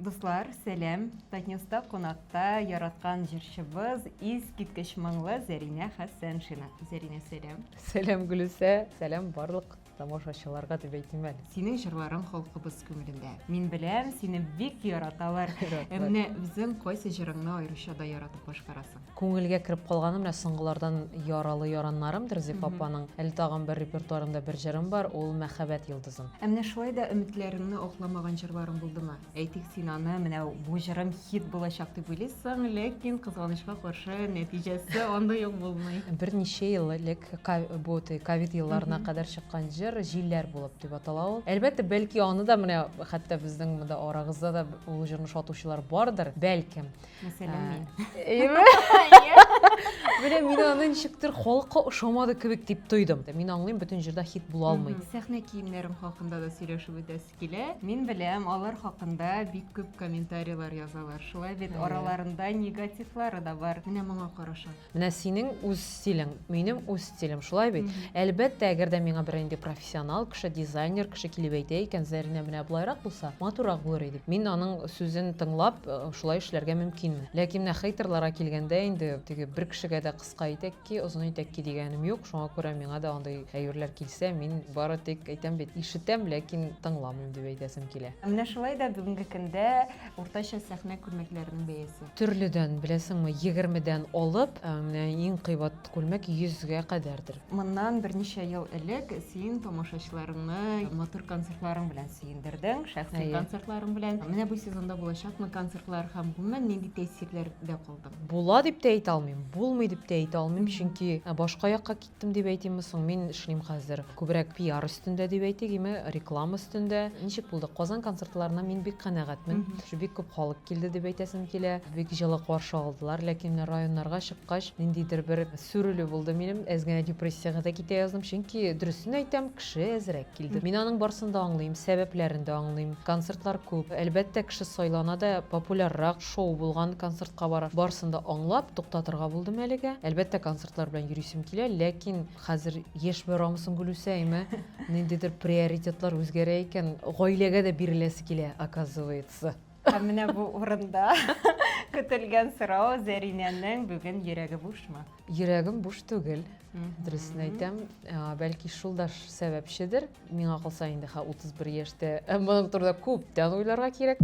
Дуслар, сәлам! Татньюста кунакта яраткан җырчыбыз, искиткеч моңлы Зәринә Хәсәншина. Зәринә, сәлам! Сәлам, Гөлүсә! Сәлам барлык тамашачыларга дип әйтим әле. Синең җырларың халкыбыз күңелендә. Мин беләм, сине бик яраталар. Ә менә үзең кайсы җырыңны аеруча да яратып башкарасың? Күңелгә кереп калганы менә соңгылардан Яралы яраннарымдыр Зифа апаның. Әле тагын бер репертуарымда бер җырым бар, ул Мәхәббәт йолдызым. Ә менә шулай да өметләреңне акламаган җырларың булдымы? Әйтик, син аны, менә бу җырым хит булачак дип уйлыйсың, ләкин, кызганычка каршы, нәтиҗәсе андый ук булмый. Берничә ел элек, бу ковид елларына кадәр чыккан җыр, Җилләр булып дип атала ул. Әлбәттә, бәлки аны да менә хәтта безнең монда арагызда да ул җырны шатучылар бардыр, бәлкем. Мәсәлән, мин. Әйеме? Менә мин аны ничектер халыкка ошамады кебек дип тойдым. Мин аңлыйм, бөтен җырда хит була алмый. Сәхнә киемнәрем хакында да сөйләшеп үтәсе килә. Мин беләм, алар хакында бик күп комментарийлар язалар. Шулай бит, араларында негативлары да бар. Менә моңа караша. Менә синең үз стилең, минем үз стилем, шулай бит? Әлбәттә, әгәр дә миңа берәр инде профессионал кеше, дизайнер кеше килеп әйтә икән, Зәринә менә болайрак булса, матуррак булыр иде. Мин аның сүзен тыңлап, шулай эшләргә мөмкинмен. Ләкин менә хейтерларга килгәндә инде, теге бер кешегә дә кыска итәк ки, озын итәк ки дигәнем юк, шуңа күрә миңа да андый әйберләр килсә, мин бары тик әйтәм бит, ишетәм, ләкин тыңламыйм дип әйтәсем килә. Менә шулай да бүгенге көндә Уртача сәхнә күлмәкләренең бәясе. Төрледән, беләсеңме, егермедән алып, менә иң кыйбат күлмәк йөзгә кадәрдер. Моннан берничә ел элек син тамашачыларыңны матур концертларың белән сөендердең, шәхси концертларың белән. Менә бу сезонда булачакмы концертлар һәм гомумән нинди тәэсирләрдә калдың? Була дип тә әйтә алмыйм, булмый дип тә әйтә алмыйм, чөнки башка якка Тем дип әйтимме соң, мин эшлим хәзер күбрәк пиар өстендә дип әйтик, име реклама өстендә. Ничек булды? Казан концертларына мин бик канәгатьмен. Бик күп халык килде дип әйтәсем килә. Бик җылы каршы алдылар, ләкин районнарга чыккач, ниндидер бер сүрелү булды минем. Әз генә депрессиягә дә китә яздым, чөнки, дөресен әйтәм, кеше әзрәк килде. Мин аның барысын да аңлыйм, сәбәпләрен дә аңлыйм. Концертлар күп. Әлбәттә, кеше сайлана да популяррак. Шоу булган, концертка барам. Барсын да аңлап, туктатырга булдым әлегә. Әлбәттә, концертлар белән йөрисем килә, ләкин хәзер яшь барамысын, Гөлүсә, әйме? Ниндидер приоритетлар үзгәрә икән. Гаиләгә дә биреләсе килә, оказывается. Һәм менә бу урында көтелгән сорау, Зәринәнең бүген йөрәге бушмы? Йөрәгем буш түгел. Дөресен әйтәм, бәлки шул да сәбәпчедер. Миңа калса инде хә 31 яшьтә. Моның турында күптән уйларга кирәк.